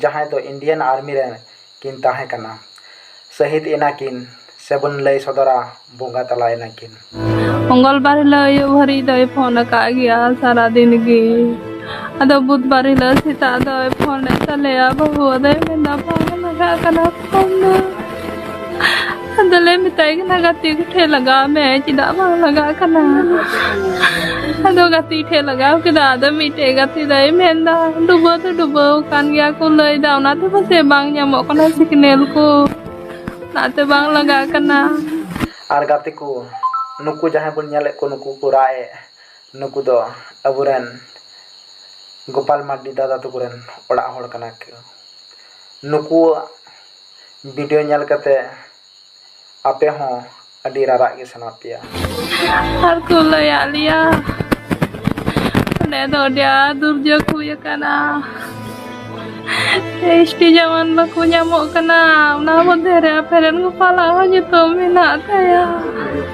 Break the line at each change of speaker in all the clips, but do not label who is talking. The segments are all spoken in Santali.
ᱡᱟᱦᱟᱸᱭ ᱫᱚ ᱤᱱᱰᱤᱭᱟᱱ ᱟᱨᱢᱤ ᱨᱮ ᱠᱤᱱ ᱛᱟᱦᱮᱸ ᱠᱟᱱᱟ᱾ ᱥᱟᱹᱦᱤᱫᱽ ᱮᱱᱟ ᱠᱤᱱ ᱥᱮᱵᱚᱱ ᱞᱟᱹᱭ ᱥᱚᱫᱚᱨᱟ ᱵᱚᱸᱜᱟ ᱛᱟᱞᱟ ᱮᱱᱟ ᱠᱤᱱ᱾ ᱢᱚᱝᱜᱚᱞᱵᱟᱨ
ᱦᱤᱞᱚᱜ ᱟᱹᱭᱩᱵ ᱦᱟᱹᱨᱤᱡ ᱫᱚᱭ ᱯᱷᱚᱱ ᱟᱠᱟᱫ ᱜᱮᱭᱟ ᱥᱟᱨᱟ ᱫᱤᱱ ᱜᱮ᱾ ᱟᱫᱚ ᱵᱩᱫᱷᱵᱟᱨ ᱦᱤᱞᱚᱜ ᱥᱮᱛᱟᱜ ᱫᱚᱭ ᱯᱷᱚᱱ ᱮᱫ ᱛᱟᱞᱮᱭᱟ ᱵᱟᱹᱦᱩ ᱟᱫᱚᱭ ᱢᱮᱱ ᱮᱫᱟ ᱯᱷᱚᱱ ᱮᱢ ᱟᱠᱟᱫ ᱠᱟᱱᱟ᱾ ᱟᱫᱚ ᱞᱮ ᱢᱮᱛᱟᱭ ᱠᱟᱱᱟ ᱜᱟᱛᱮ ᱠᱚᱴᱷᱮ ᱞᱟᱜᱟᱣ ᱢᱮ ᱪᱮᱫᱟᱜ ᱵᱟᱝ ᱞᱟᱜᱟᱜ ᱠᱟᱱᱟ ᱟᱫᱚ ᱜᱟᱛᱮ ᱴᱷᱮ ᱞᱟᱜᱟᱣ ᱠᱮᱫᱟ ᱟᱫᱚ ᱢᱤᱫᱴᱮᱡ ᱜᱟᱛᱮ ᱫᱚᱭ ᱢᱮᱱᱫᱟ ᱰᱩᱵᱟᱹ ᱫᱚ ᱰᱩᱵᱟᱹ ᱠᱟᱱ ᱜᱮᱭᱟ ᱠᱚ ᱞᱟᱹᱭᱫᱟ ᱚᱱᱟᱛᱮ ᱯᱟᱥᱮ ᱵᱟᱝ ᱧᱟᱢᱚᱜ ᱠᱟᱱᱟ ᱥᱤᱜᱽᱱᱮᱞ ᱠᱚ ᱚᱱᱟᱛᱮ ᱵᱟᱝ ᱞᱟᱜᱟᱜ ᱠᱟᱱᱟ ᱟᱨ ᱜᱟᱛᱮ
ᱠᱚ ᱱᱩᱠᱩ ᱡᱟᱦᱟᱸᱭ ᱵᱚᱱ ᱧᱮᱞᱮᱫ ᱠᱚ ᱱᱩᱠᱩ ᱠᱚ ᱨᱟᱜ ᱮᱫ ᱱᱩᱠᱩ ᱫᱚ ᱟᱵᱚᱨᱮᱱ ᱜᱳᱯᱟᱞ ᱢᱟᱨᱰᱤ ᱫᱟᱫᱟ ᱛᱟᱠᱚ ᱨᱮᱱ ᱚᱲᱟᱜ ᱦᱚᱲ ᱠᱟᱱᱟ ᱠᱚ ᱱᱩᱠᱩᱣᱟᱜ ᱵᱷᱤᱰᱤᱭᱳ ᱧᱮᱞ ᱠᱟᱛᱮ ᱟᱯᱮ ᱦᱚᱸ ᱟᱹᱰᱤ ᱨᱟᱨᱟᱜ ᱜᱮ ᱥᱟᱱᱟ ᱯᱮᱭᱟ᱾ ᱟᱨ
ᱠᱚ ᱞᱟᱹᱭᱟᱫ ᱞᱮᱭᱟ ᱚᱸᱰᱮ ᱫᱚ ᱟᱹᱰᱤ ᱟᱸᱴ ᱫᱩᱨᱡᱳᱜᱽ ᱦᱩᱭ ᱟᱠᱟᱱᱟ᱾ ᱮᱥᱴᱤ ᱡᱟᱣᱟᱱ ᱵᱟᱠᱚ ᱧᱟᱢᱚᱜ ᱠᱟᱱᱟ ᱚᱱᱟ ᱢᱚᱫᱽᱫᱷᱮ ᱨᱮ ᱟᱯᱮ ᱨᱮᱱ ᱜᱳᱯᱟᱞᱟᱜ ᱦᱚᱸ ᱧᱩᱛᱩᱢ ᱢᱮᱱᱟᱜ ᱛᱟᱭᱟ᱾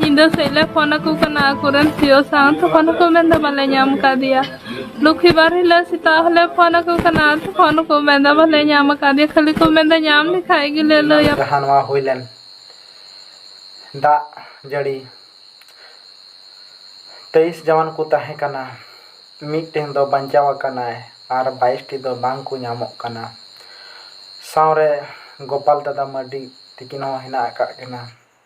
ᱧᱤᱫᱟᱹ ᱥᱮᱫ ᱞᱮ ᱯᱷᱳᱱ ᱟᱠᱚ ᱠᱟᱱᱟ ᱟᱠᱚᱨᱮᱱ ᱥᱤᱭᱳ ᱥᱟᱶ ᱛᱚᱠᱷᱚᱱ ᱦᱚᱸᱠᱚ ᱢᱮᱱᱫᱟ ᱵᱟᱞᱮ ᱧᱟᱢ ᱠᱟᱫᱮᱭᱟ ᱞᱚᱠᱠᱷᱤ ᱵᱟᱨ ᱦᱤᱞᱳᱜ ᱥᱮᱛᱟᱜ ᱦᱚᱸᱞᱮ ᱯᱷᱳᱱ ᱟᱠᱚ ᱠᱟᱱᱟ ᱛᱚᱠᱷᱚᱱ ᱦᱚᱸᱠᱚ ᱢᱮᱱᱫᱟ ᱵᱟᱞᱮ ᱧᱟᱢ ᱠᱟᱫᱮᱭᱟ ᱠᱷᱟᱹᱞᱤ ᱠᱚ ᱢᱮᱱᱫᱟ ᱧᱟᱢ ᱞᱮᱠᱷᱟᱡ ᱜᱮᱞᱮ ᱞᱟᱹᱭᱟ ᱡᱟᱦᱟᱸ ᱱᱚᱣᱟ ᱦᱩᱭ ᱞᱮᱱ
ᱫᱟᱜ ᱡᱟᱹᱲᱤ ᱛᱮᱭᱤᱥ ᱡᱟᱣᱟᱱ ᱠᱚ ᱛᱟᱦᱮᱸ ᱠᱟᱱᱟ ᱢᱤᱫᱴᱮᱱ ᱫᱚ ᱵᱟᱧᱪᱟᱣ ᱟᱠᱟᱱᱟᱭ ᱟᱨ ᱵᱟᱭᱤᱥᱴᱤ ᱫᱚ ᱵᱟᱝ ᱠᱚ ᱧᱟᱢᱚᱜ ᱠᱟᱱᱟ ᱥᱟᱶᱨᱮ ᱜᱳᱯᱟᱞ ᱫᱟᱫᱟ ᱢᱟᱹᱨᱰᱤ ᱛᱤᱠᱤᱱ ᱦᱚᱸ ᱦᱮᱱᱟᱜ ᱟᱠᱟᱫ ᱠᱤᱱᱟ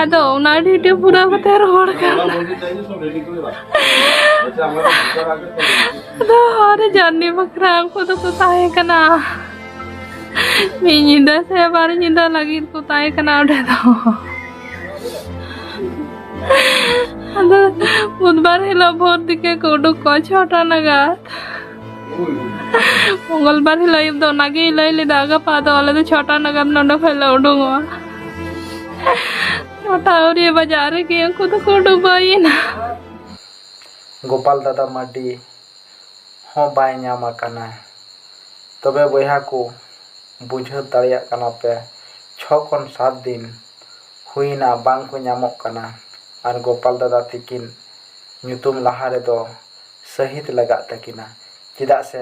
ᱟᱫᱚ ᱚᱱᱟ ᱰᱤᱴᱮ ᱯᱩᱨᱟᱹᱣ ᱠᱟᱛᱮ ᱨᱚᱦᱚᱲ ᱠᱟᱱ ᱟᱫᱚ ᱦᱚᱨᱮ ᱡᱟᱨᱱᱤ ᱵᱟᱠᱷᱨᱟ ᱩᱱᱠᱩ ᱫᱚᱠᱚ ᱛᱟᱦᱮᱸ ᱠᱟᱱᱟ ᱢᱤᱫ ᱧᱤᱫᱟᱹ ᱥᱮ ᱵᱟᱨ ᱧᱤᱫᱟᱹ ᱞᱟᱹᱜᱤᱫ ᱠᱚ ᱛᱟᱦᱮᱸ ᱠᱟᱱᱟ ᱚᱸᱰᱮ ᱫᱚ ᱟᱫᱚ ᱵᱩᱫᱷᱵᱟᱨ ᱦᱤᱞᱳᱜ ᱵᱷᱳᱨ ᱛᱮᱜᱮ ᱠᱚ ᱩᱰᱩᱠ ᱠᱚᱣᱟ ᱪᱷᱚᱴᱟ ᱱᱟᱜᱟᱫ ᱢᱚᱝᱜᱚᱞᱵᱟᱨ ᱦᱤᱞᱳᱜ ᱟᱹᱭᱩᱵ ᱫᱚ ᱚᱱᱟᱜᱮ ᱞᱟᱹᱭ ᱞᱮᱫᱟ ᱜᱟᱯᱟ ᱫᱚ ᱟᱞᱮ ᱫᱚ ᱪᱷᱚᱴᱟ ᱱᱟᱜᱟᱢ ᱱᱚᱰᱮ ᱠᱷᱚᱱ ᱞᱮ ᱩᱰᱩᱝᱚᱜᱼᱟ ᱪᱷᱚᱴᱟ ᱟᱹᱣᱨᱤ ᱵᱟᱡᱟᱜ ᱨᱮᱜᱮ ᱩᱱᱠᱩ ᱫᱚᱠᱚ ᱰᱩᱵᱟᱹᱭᱮᱱᱟ ᱜᱳᱯᱟᱞ
ᱫᱟᱫᱟ ᱢᱟᱨᱰᱤ ᱦᱚᱸ ᱵᱟᱭ ᱧᱟᱢ ᱟᱠᱟᱱᱟ ᱛᱚᱵᱮ ᱵᱚᱭᱦᱟ ᱠᱚ ᱵᱩᱡᱷᱟᱹᱣ ᱫᱟᱲᱮᱭᱟᱜ ᱠᱟᱱᱟ ᱯᱮ ᱪᱷᱚ ᱠᱷᱚᱱ ᱥᱟᱛ ᱫᱤᱱ ᱦᱩᱭᱮᱱᱟ ᱵᱟᱝ ᱠᱚ ᱧᱟᱢᱚᱜ ᱠᱟᱱᱟ ᱟᱨ ᱜᱳᱯᱟᱞ ᱫᱟᱫᱟ ᱛᱤᱠᱤᱱ ᱧᱩᱛᱩᱢ ᱞᱟᱦᱟ ᱨᱮᱫᱚ ᱥᱟᱹᱦᱤᱫᱽ ᱞᱟᱜᱟᱜ ᱛᱟᱹᱠᱤᱱᱟ ᱪᱮᱫᱟᱜ ᱥᱮ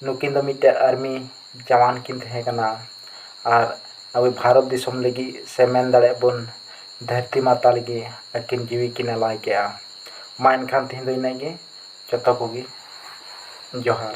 ᱱᱩᱠᱤᱱ ᱫᱚ ᱢᱤᱫᱴᱮᱱ ᱟᱨᱢᱤ ᱡᱟᱣᱟᱱ ᱠᱤᱱ ᱛᱟᱦᱮᱸ ᱠᱟᱱᱟ ᱟᱨ ᱟᱵᱚ ᱵᱷᱟᱨᱚᱛ ᱫᱤᱥᱚᱢ ᱞᱟᱹᱜᱤᱫ ᱥᱮ ᱢᱮᱱ ᱫᱟᱲᱮᱭᱟᱜᱼᱟ ᱵᱚᱱ ᱫᱷᱟᱹᱨᱛᱤ ᱢᱟᱛᱟ ᱞᱟᱹᱜᱤᱫ ᱟᱹᱠᱤᱱ ᱡᱤᱣᱤ ᱠᱤᱱ ᱟᱞᱟᱭ ᱠᱮᱫᱼᱟ ᱢᱟ ᱮᱱᱠᱷᱟᱱ ᱛᱮᱦᱮᱧ ᱫᱚ ᱤᱱᱟᱹᱜ ᱜᱮ ᱡᱚᱛᱚ ᱠᱚᱜᱮ ᱡᱚᱦᱟᱨ